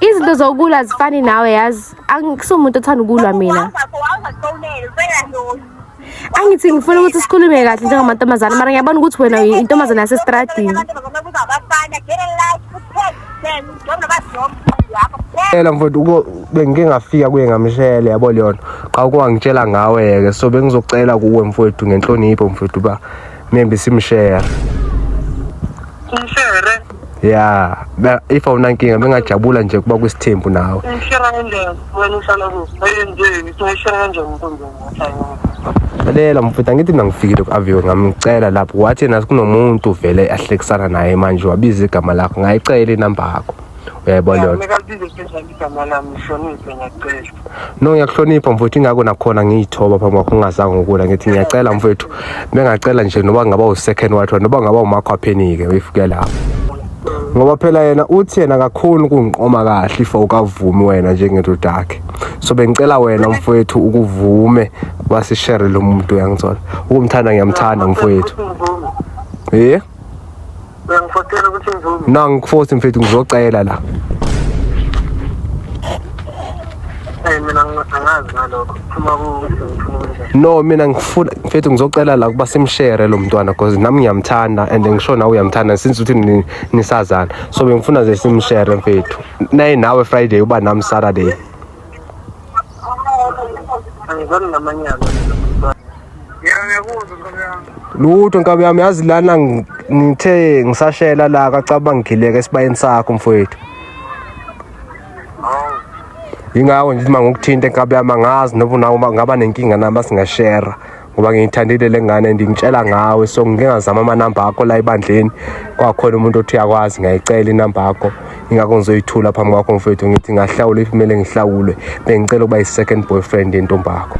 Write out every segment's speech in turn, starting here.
izinto zokulwa zifani nawe yazi angisumuntu othanda ukulwa mina angithi ngifuna ukuthi sikhulume kahle njengamantombazane mara ngiyabona ukuthi wena intombazane yasesitradini Ela mfowethu uko bengike ngafika kuye ngamshele yabo leyona. Qha ukwangitshela ngawe ke so bengizocela kuwe mfowethu ngenhlonipho mfowethu ba maybe simshare Ngishare. ya ba- if awunankinga bengajabula nje kuba kwisithembu nawe Ngishare kanjani? Wena uhlala kuphi? Ayenzeki. Ngishare kanjani mfundisi? lalela mfutha ngithi mina ngifikile ku-aviwe ngamcela lapho wathi yena kunomuntu vele ahlekisana naye manje wabiza igama lakho ngayicela inamba yakho uyayibona leyo nto. Ngeke libize phezulu igama lami ngihloniphe ngiyacela. no ngiyakuhlonipha mfowethu ingako nakhona ngiyithoba phambi kwakho ungazange ngokula ngithi ngiyacela mfowethu bengacela nje noba ngaba u-second wife wami, noba ngaba umakho aphenike uyifuke lapho ngoba phela yena uthi yena kakhulu ukungiqoma kahle if awukavumi wena njengendoda yakhe so bengicela wena mfowethu ukuvume basishere lo muntu uyangithola ukumthanda ngiyamthanda mfowethu Uthi ngivume. ye Uyangifotela ukuthi ngivume. No ngikufosi mfethu ngizocela la. Eh mina ngingazi ngalokho. Phuma ku No mina ngifuna mfethu ngizocela la kuba simshare lo mntwana because nami ngiyamthanda and ngisho nawe uyamthanda since uthi nisazana. So bengifuna ze simshare mfethu. Naye nawe Friday uba nami Saturday. Angizani namanyala. lutho nkabi yami yazi lana ngithe ngisashela la kacaba ngigileke esibayeni sakho mfowethu yingakho nje uma ngokuthinta enkabi yami angazi noba nawo ngaba nenkinga nami asingashera ngoba ngiyithandile le ngane and ngitshela ngawe so ngingazama amanamba akho la ebandleni kwakhona umuntu othi uyakwazi ngiyayicela inamba yakho ingakho ngizoyithula phambi kwakho mfethu ngithi ngahlawula if kumele ngihlawulwe bengicela ukuba yi-second boyfriend yentombakho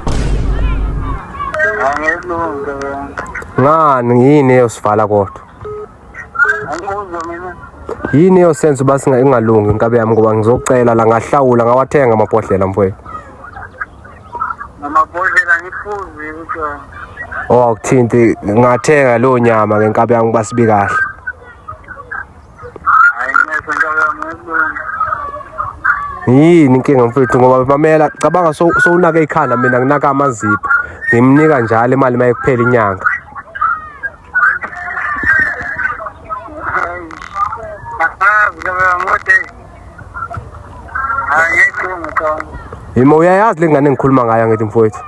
ngani yini eyosivala kodwa yini eyosenza uba ingalungi inkabe yami ngoba ngizocela la ngahlawula ngawathenga amabhodlela mfowethu amabhodlela ngifuzi kuthiwa owakuthinti oh, ngathenga leyo nyama ngenkabe yami uba sibi kahle yini inkinga mfethu ngoba mamela cabanga sowunake ikhanda mina nginaka amazipho ngimnika njalo imali uma ekuphela inyanga yima uyayazi le ngane engikhuluma ngayo ngithi mfowethu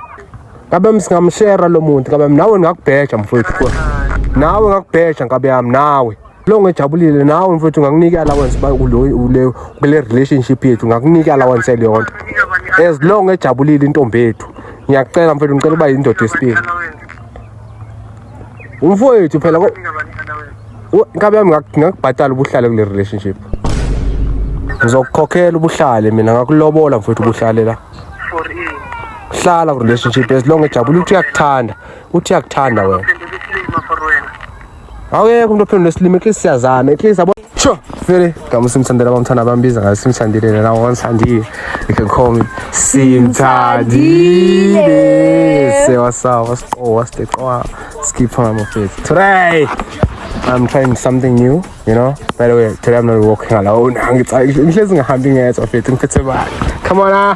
kabe msingamshera lo muntu kabe nawe ngingakubheja mfowethu nawe ngakubheja nkabe yami nawe lo ngejabulile nawe mfowethu ngakunika allowance ba kule kule relationship yethu ngakunika allowance eliyonto as long ejabulile intombi yethu ngiyakucela mfowethu ngicela uba yindoda yesibili umfowethu phela inkabi yami ngakubhatala ubuhlale kule relationship ngizokukhokhela ubuhlale mina ngakulobola mfowethu ubuhlale la hlala ku relationship as long ejabulile uthi uyakuthanda uthi uyakuthanda wena awuyeke umuntu ophendula esilimi at least siyazama at least yabo sure vele ngama simthandela abamthanda bambiza ngayo simthandile nena wonsandile you can call me simthandile sewasawa siqowa siqowa skipha ngamafethu today I'm trying something new, you know. By the way, today I'm not walking alone. Come on, ah.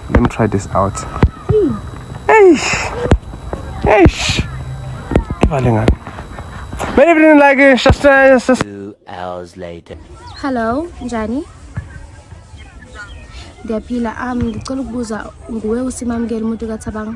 Let me try this out. Eish. Eish. Ibale ngani. Many people like it. Just, uh, just. Two hours later. Hello, Njani. Ngiyaphila. Um, ngicela ukubuza nguwe usimamukela umuntu kaThabang.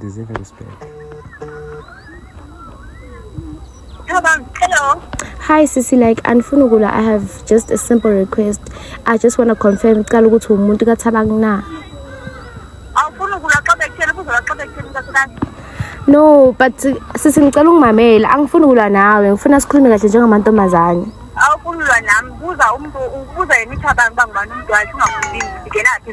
Deserve respect. Hello. Hi sisi like andifuni ukula I have just a simple request. I just want to confirm cala ukuthi umuntu kathabang na. Awufuni ukula xa bekutshela kuzola xa bekutshela intosikani. No, but sisi ngicela ungimamele. Angifuni ukulwa nawe. Ngifuna sikhulume kahle njengamantombazane. Awufuni ukulwa nami. Buza umuntu ubuza yena ithabang bangibani umuntu wakhe ungakhulumi. Ngena phi?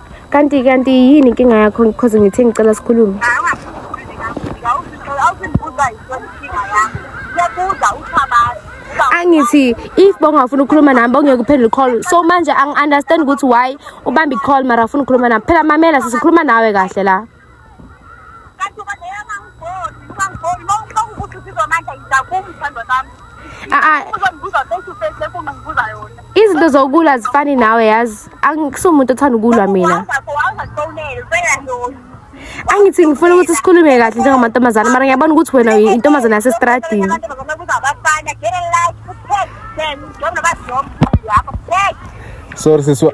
Kanti kanti yini inkinga yakho because ngithe ngicela sikhulume. Angithi if bongafuna ukukhuluma nami bongeke uphendule call. So manje angi understand ukuthi why ubamba i call mara afuna ukukhuluma nami. Phela mamela sisikhuluma nawe kahle la. izinto zokulwa zifani nawe yazi angisumuntu othanda ukulwa mina angithi ngifuna ukuthi sikhulume kahle njengamantombazane mara ngiyabona ukuthi wena intombazane yasesitradini sorry siswa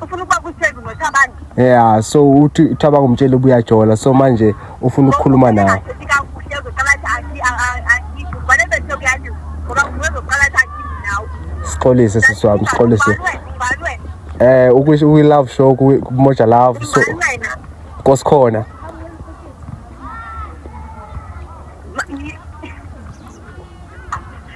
ufuna ukuba kutheni nothabani yeah so uthi uthabanga umtshele ubuyajola so manje ufuna ukukhuluma nawe sixolise sisi wami sixolise eh ukwi-love show kumoja love so kosikhona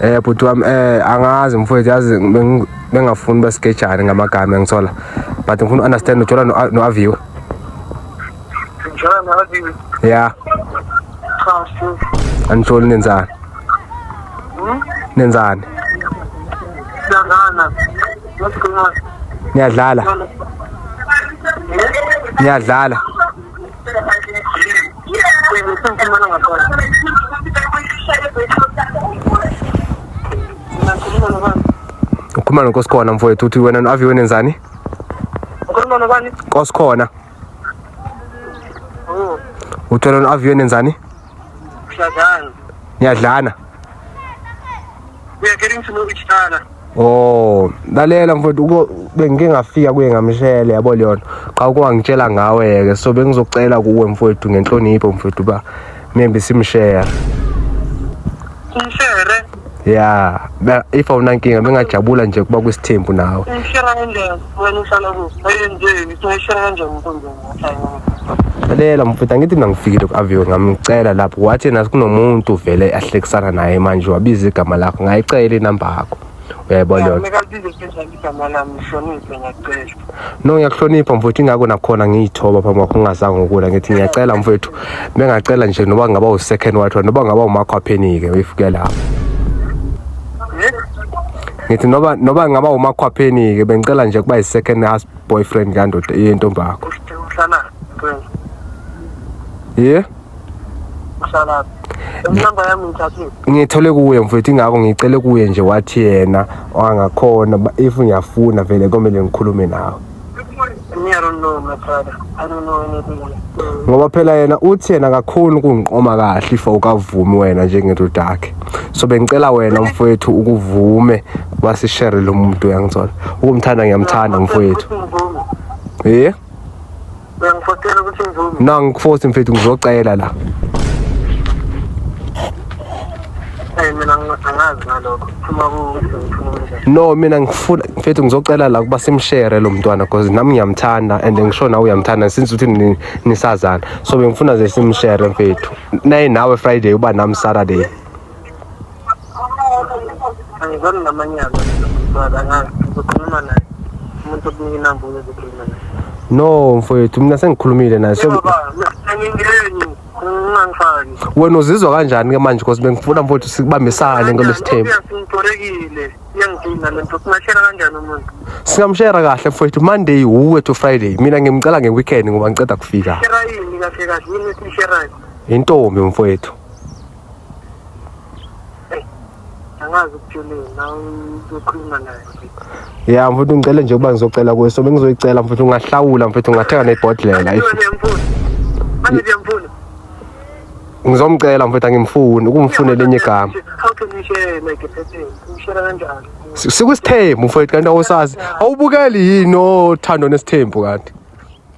Eh bhuti wami eh angazi mfowethu yazi bengafuni basigejane ngamagama engithola but ngifuna understand ujola no Avio. Ujola no Avio. Yeah. Cha sho. Anjoli nenzani? Hmm? Nenzani? Nenzani? What's going on? Niyadlala. Niyadlala. ukhuluma nonkosikhona mfowethu uthi wena no-avi wena enzani ukhuluma nobani nkosikhona Oh. uthi wena no-avi wena enzani Kusadlana. Niyadlana. We are getting to know each other. Oh, lalela mfowethu uko bengike ngafika kuye ngamshele yabo leyona. Qha ukwangitshela ngawe ke so bengizocela kuwe mfowethu ngenhlonipho mfowethu ba maybe simshare. Simshare. ya if awunankinga bengajabula nje kuba kwisithembu nawe lalela mfutha ngithi mina ngifikile ku-aviwe ngamcela lapho wathi nathi kunomuntu vele ahlekisana naye manje wabiza igama lakho ngayicela inamba yakho uyayibona yona igama lami hloniphe ngiyacela no ngiyakuhlonipha mfowethu ingako nakhona ngiyithoba phambi kwakho ungazange ukula ngithi ngiyacela mfowethu bengacela nje noba ngaba u-second wathiwa noba ngaba umakho aphenike uyifuke lapho ngithi noba noba ngaba umakho aphenike bengicela nje kuba yi-second house boyfriend kandoda yentombi yakho ye yeah? Usalaphi? Inamba yami ngithathile. Ngithole kuye mfethu ingakho ngicele kuye nje wathi yena angakhona ba- if ngiyafuna vele komele ngikhulume nawe. Me, I don't know, my brother. I don't know anything. Mm. Ngoba phela yena uthi yena kakhulu kungiqoma kahle if awukavumi wena njengendoda yakhe. So bengicela wena mfethu ukuvume basishare lo muntu uyangithola. Ukumthanda ngiyamthanda mfethu. Uthi ngivume. Eh? Uyangifotela ukuthi ngivume. No ngikufosi mfethu ngizocela la. Hey mina ngingazi ngalokho. Phuma ku No mina ngifuna mfethu ngizocela la kuba simshare lo mntwana because nami ngiyamthanda and ngisho nawe uyamthanda since uthi nisazana. So bengifuna ze simshare mfethu. Naye nawe Friday uba nami Saturday. angizani namanyala mntwana angazi ngizokhuluma naye umuntu okunika inamba uyozokhuluma naye no mfowethu mina sengikhulumile naye so angingeni ungangifaki wena uzizwa kanjani ke manje because bengifuna mfowethu sibambisane ngalo sithembu singitorekile iyangidina le nto singashera kanjani umuntu singamshera kahle mfowethu monday wuwe to friday mina ngimcela ngeweekend ngoba ngiceda kufika shera yini kahle kahle yini esisherayo intombi mfowethu angazi ukutshele yena ukhuluma naye ya mfuthu ngicele nje ukuba ngizocela kuwe so bengizoyicela mfuthu ungahlawula mfuthu ungathenga nebhodlela ngizomcela mfethu angimfuni ukumfunela enye igama sikusithembu mfethu kanti awusazi awubukeli yini othando nesithembu kanti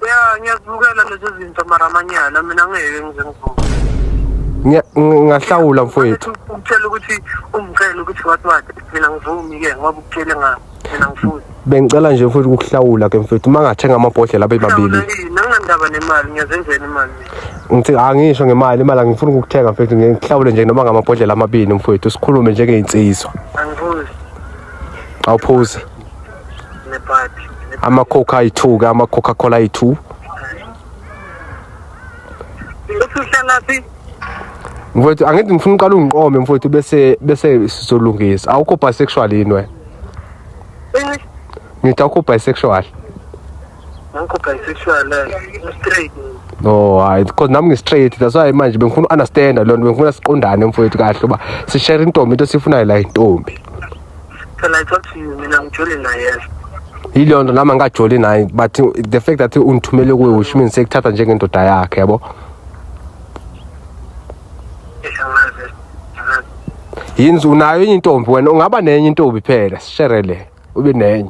ya ngiyazibukela lezi zinto mara amanyala mina ngeke ngize ngivuke Ngiya- ng- ngahlawula mfowethu ukutshela ukuthi ungicela ukuthi wathi wathi mina ngivumi ke ngoba ukutshele nga mina ngifuni bengicela nje mfowethu ukuhlawula ke mfowethu uma ngathenga amabhodlela abe mabili nanginandaba nemali ngiyazenzela imali mina ngithi angisho ngemali imali angifuni ukukuthenga mfowethu ngiye ngihlawule nje noma ngamabhodlela amabili mfowethu sikhulume njengey'nsizwa angivuzi awuphuzi ama-coke ayi-two ke ama-coca cola ayi-two mfowethu angithi ngifuna uqala ungiqome mfowethu bese bese sizolungisa awukho bisexual yini wena eh? ngithi awukho bisexual ngikho bisexual eh, straight no hayi because nami ngi-straight that's why manje bengifuna u-understanda loo nto bengifuna siqondane mfowethu kahle uba sishere intombi into esiyifunayo la intombi Can I talk to you? Mina ngijole naye yes. Yiloo nto nami angikajoli naye but the fact that ungithumele kuwe which means sekuthatha njengendoda yakhe yabo. Yini unayo enye intombi wena ungaba nenye intombi phela sisherele ube nenye.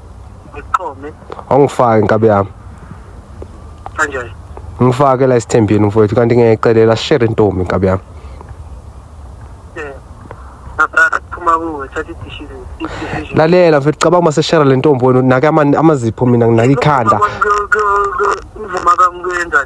Ngiqome. Awungifaki nkabi yami. Kanjani? Ngifake la isithembini mfowethu kanti ngiyayicelela share intombi nkabi yami. Eh. Nabrada phuma kuwe thatha idishizi. Lalela mfethu cabanga uma seshare le ntombi wena nake amazipho mina nginaka ikhanda. Umvuma kamuyenza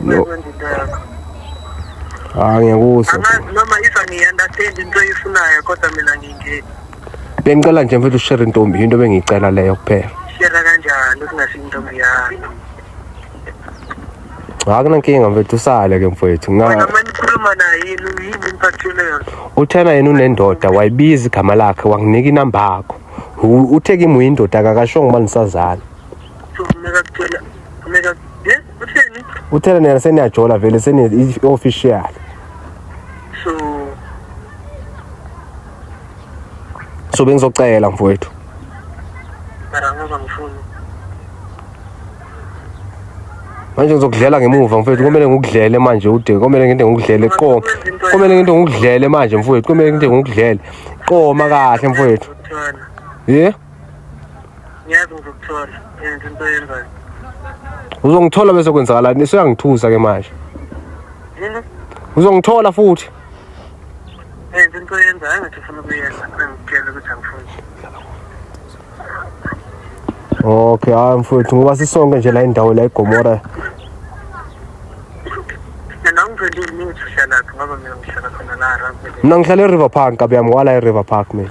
No. Ah ngiyakuzwa. Angazi noma ifa ngiyandathanda into oyifunayo kodwa mina ngingeni. Bengicela nje mfethu share intombi into bengicela leyo kuphela. Share kanjani ukungasi intombi yakho? akunankinga mfethu usale ke mfethu nganikhuluma naye yini impathelelo uthena yena unendoda wayibiza igama lakhe wanginika inamba yakho uthe kimi uyindoda kakashongo uma nisazana uthela nina seniyajola vele seni-official so bengizocela mfowethu manje ngizokudlela ngemuva mfowethu komele ngikudlele manje ude komele nginte ngikudlele qoma komele nginte ngikudlele manje mfowethu komele nginte ngikudlele qoma kahle mfowethu ye yeah? ngiyazi ngizokuthola yenza into oyenzayo uzongithola bese kwenzakalani isuyangithusa ke manje yini uzongithola futhi yenza into oyenzayo ngathi ufuna ukuyenza angitshela ukuthi angifuni okay hayi mfowethu ngoba sisonke nje la indawo la igomora mina ngizolile mina ngihlala khona la mina ngihlala eriver park kabi yami wala eriver park mina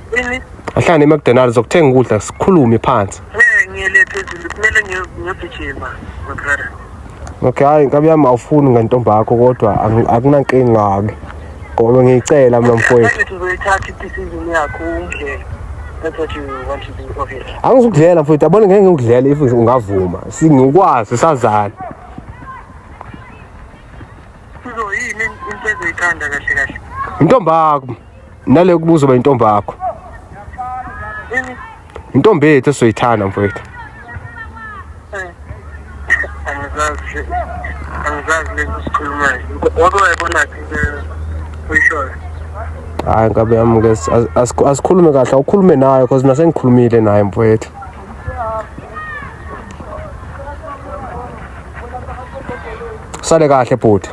Yini? Ahlane eMcDonald's zokuthenga ukudla sikhulume phansi. Eh ngiyele phezulu kumele ngiyogijima my brother. Okay hayi nkabi yami awufuni ngentombi yakho kodwa akunankinga ke. Ngoba ngiyicela mina mfowethu. Uzoyithatha i-decision yakho ungidlele. That's what you want to do okay. Angizukudlela mfowethu yabona ngeke ngikudlela if ungavuma. Singikwazi sazana. Sizoyini into ezoyikanda kahle kahle. Intombi yakho. nale kubuza uba intombi yakho intombi yethu esizoyithanda mfowethu angizazi lento sikhulumayo wake wayibonaphi uyishoyo hayi ngabe yami ke asikhulume kahle awukhulume nayo because nasengikhulumile naye mfowethu sale kahle bhuti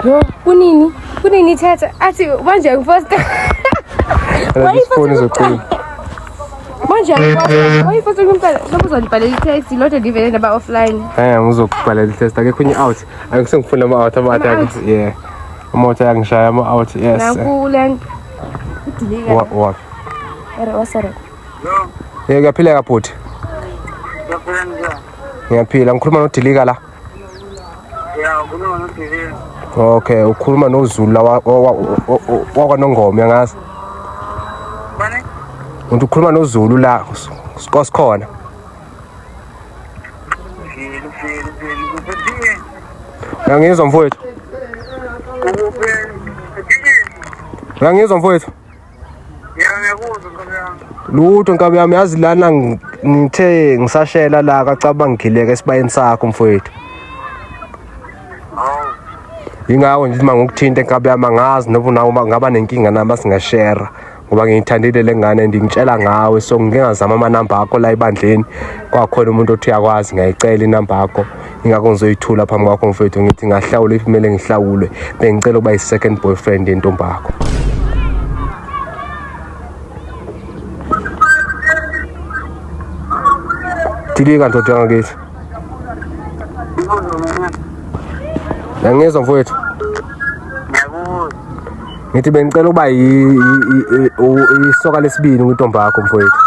Yo, kunini? Kunini thatha? Athi manje ngifosta. Wayifoni zoqina. Manje wayifota kumpela sobe uzolibhalela i-test lodwa livele naba offline. Eh ngizokubhalela i-test akekho inye out. Angise ngifuna ama out ama out. Yeah. Umoto yangishaya ama out yes. Nakule. Udilika. Wa wa. Era wasara. Yeke kuyaphileka bhuti. Ngiyaphila njani? Ngiyaphila, ngikhuluma noDilika la. Ya, ukhuluma noDilika. Okay, ukhuluma noZulu la wakwaNongoma yangazi. Bani? Umuntu ukhuluma noZulu la, sikhona. Uyangizwa mfowethu? Uyangizwa mfowethu? lutho nkabi yami yazi lana ngithe ngisashela la kacaba ngigileka esibayeni sakho mfowethu yingakho nje uma ngikuthinte nkabi yami angazi noba nawe ngaba nenkinga nami asingashera ngoba ngiyithandile le ngane ndingitshela ngawe so ngingazama amanamba akho la ebandleni kwakhona umuntu othi uyakwazi ngiyayicela inamba yakho ingakho ngizoyithula phambi kwakho mfethu ngithi ngahlawula if kumele ngihlawulwe bengicela ukuba yi-second boyfriend yentombakho dilika ndoda yangakithi yangizwa mfowethu ngithi bengicela ukuba isoka lesibini kwintombi yakho mfowethu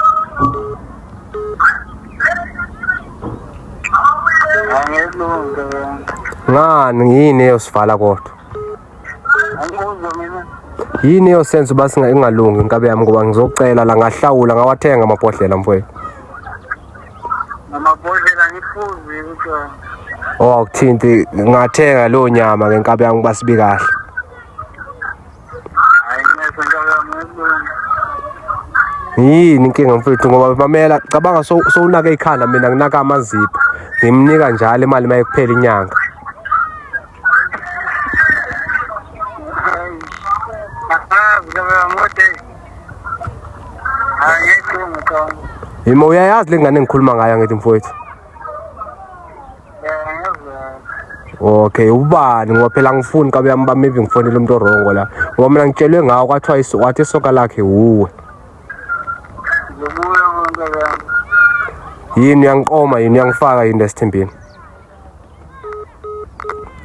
ngani yini eyosivala kodwa yini eyosenza uba singaingalungi inkabe yami ngoba ngizocela la ngahlawula ngawathenga amabhodlela mfowethu amabhodlela ngifuzi kuthiwa owakuthinti oh, ngathenga leyo nyama ngenkabe yami uba sibi kahle yini inkinga mfethu ngoba mamela cabanga sowunaka so ikhanda mina nginaka amazipho ngimnika njalo imali uma ekuphela inyanga yima uyayazi le ngane engikhuluma ngayo angithi mfowethu okay ubani ngoba phela angifuni kabe yami bami maybe ngifonele umuntu orongo la ngoba mina ngitshelwe ngawo kwathiwa iso- wathi isoka lakhe wuwe ngibuya konke yami yini uyangiqoma yini uyangifaka yini lesithimbini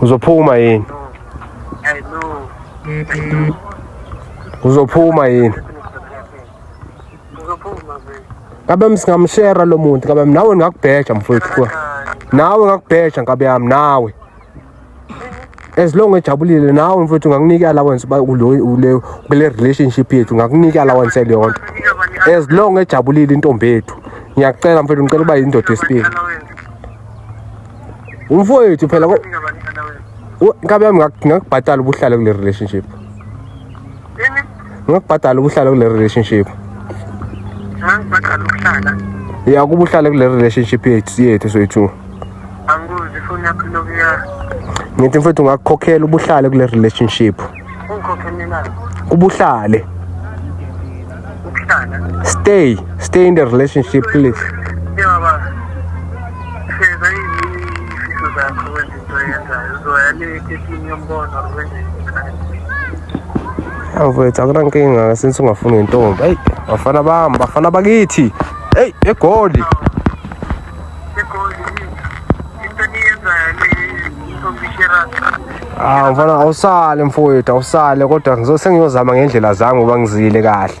uzophuma yini uzophuma yini kabe msingamshera lo muntu kabe nawe ngingakubheja mfowethu nawe ngakubheja nkabe yami nawe as long ejabulile nawe mfowethu ngakunika allowance uba kule kule relationship yethu ngakunika allowance yaleyo nto as long ejabulile intombi yethu ngiyakucela mfowethu ngicela uba yindoda yesibili umfowethu phela inkabi yami ngingakubhatala ubuhlale kule relationship ngokubhadala ubuhlala kule relationship ngangibhadala ukuhlala ya kuba uhlale kule relationship yethu yethu soyi-two angibuzi ifoni yakho ilokhu ya ngithi mfethu ungakukhokhela ubuhlale kule relationship ungikhokhelelani ubuhlale ukuhlala stay stay in the relationship please njengoba feza izifiso zakho wenze awu mfethu akunankinga since ungafuni ngentombi eyi bafana bami bafana bakithi eyi egoli awu mfana awusale mfowethu awusale kodwa sengiyoza ngendlela zami ngoba ngizile kahle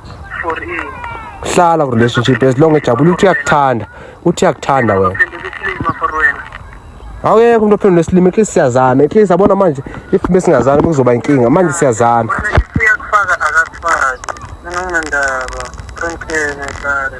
for in hlala ku relationship as long ejabule ukuthi uyakuthanda uthi uyakuthanda wena sendele isilima for wena awuyeke umuntu ophendula isilimi at least siyazana at least abona manje if besingazani kuzoba inkinga manje siyazana Manje if uyakufaka akakufaki mina nginandaba prank yena sare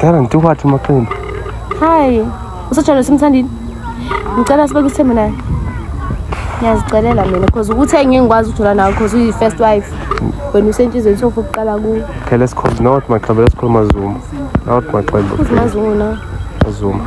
Dara ngithe kwathi umaqembu. Hayi, usajalo simthandile. Ngicela sibe kuthembe naye. Ngiyazicelela mina because ukuthi engeke ngikwazi ukuthola nawe because uyi first wife. Wena usentshizweni sofa ukuqala kuwe. Okay, let's call not my club, let's call Mazuma. Not my club. Uzimazungu na? Mazuma.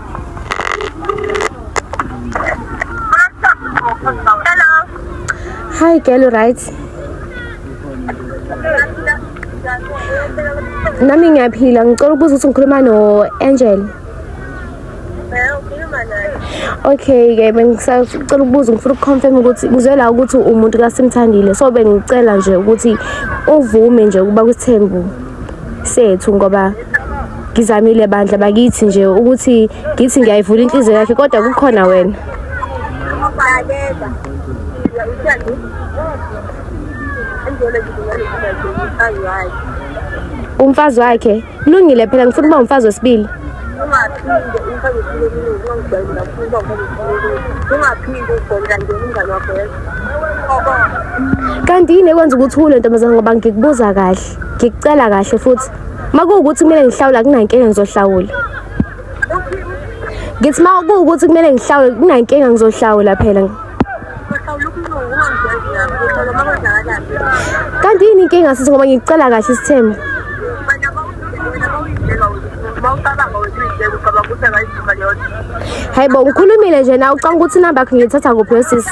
Hi girl, right? Nami ngiyaphila, ngicela ukubuza ukuthi ngikhuluma no Angel. Okay ke bengisacela ukubuza ngifuna ukuconfirm ukuthi kuzwe la ukuthi umuntu kasimthandile so bengicela nje ukuthi uvume nje ukuba kuthembu sethu ngoba ngizamile bandla bakithi nje ukuthi ngithi ngiyayivula inhliziyo yakhe kodwa kukhona wena umfazi wakhe lungile phela ngifuna uba umfazi wesibili ungaphinde umfazi wesibili kuningi ungangijwayela ngifuna uba umfazi wesibili ungaphinde ugomla nje umngane wakho kanti yini ekwenza ukuthi uthule ntombazane ngoba ngikubuza kahle ngikucela kahle futhi uma kuwukuthi kumele ngihlawula kunankinga ngizohlawula ngithi uma kuwukuthi kumele ngihlawule kunankinga ngizohlawula phela kanti yini inkinga sithi ngoba ngikucela kahle isithembu hayi bo ngikhulumile nje na ucanga ukuthi inamba yakho ngiyithatha kuphi wesisi